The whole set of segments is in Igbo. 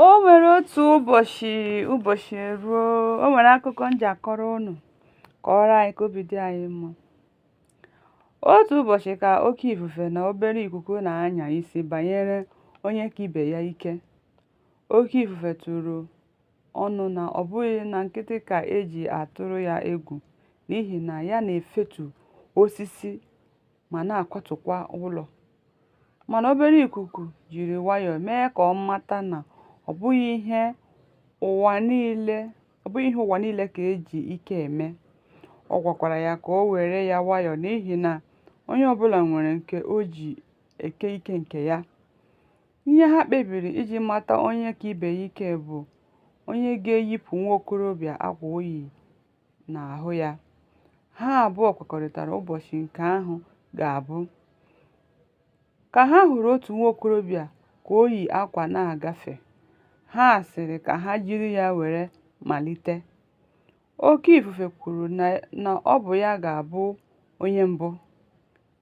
O nwere otu ụbọchị ụbọchị eruo, o nwere akụkọ m ga-akọrọ unu kọọrọ anyị ka obi dị anyị mma. Otu ụbọchị ka oke ifufe na obere ikuku na-anya isi banyere onye ka ibe ya ike. Oke ifufe tụrụ ọnụ na ọ bụghị na nkịtị ka e ji atụrụ ya egwu n'ihi na ya na-efetu osisi ma na-akwatụkwa ụlọ. Mana obere ikuku jiri nwayọọ mee ka ọ mata na ọ bụghị ihe ụwa niile ka e ji ike eme. Ọ gwakwara ya ka o were ya nwayọọ n'ihi na onye ọbụla nwere nke o ji eke ike nke ya. Ihe ha kpebiri iji mata onye ka ibe ya ike bụ onye ga-eyipụ nwa okorobịa akwa o yi n'ahụ ya. Ha abụọ kwekọrịtara ụbọchị nke ahụ ga-abụ. Ka ha hụrụ otu nwa okorobịa ka o yi akwa na-agafe, ha sịrị ka ha jiri ya were malite. Oke ifufe kwuru na ọ bụ ya ga-abụ onye mbụ.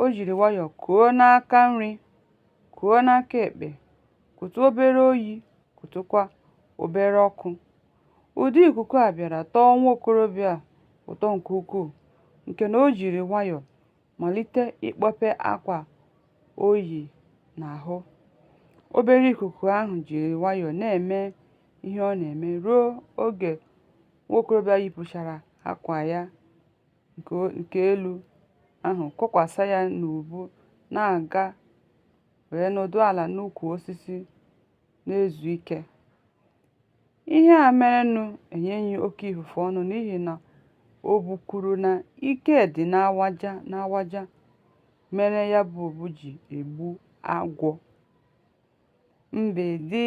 O jiri nwayọọ kuo n'aka nri, kuo n'aka ekpe, kutụ obere oyi, kutụkwa obere ọkụ. Ụdị ikuku a bịara tọọ nwa okorobịa a ụtọ nke ukwuu nke na o jiri nwayọọ malite ịkpọpe akwa o yi n'ahụ. Obere ikuku ahụ jiri nwayọọ na-eme ihe ọ na-eme ruo oge nwa okorobịa yipụchara akwa ya. nke elu ahụ, kokwasa ya n'ubu na-aga wee nọdụ ala n'ukwu osisi na-ezu ike. Ihe a merenụ enyeghị oke ifufe ọnụ n'ihi na obu kwuru na ike dị n'awaja mere ya bụ obu ji egbu agwọ. Mgbidi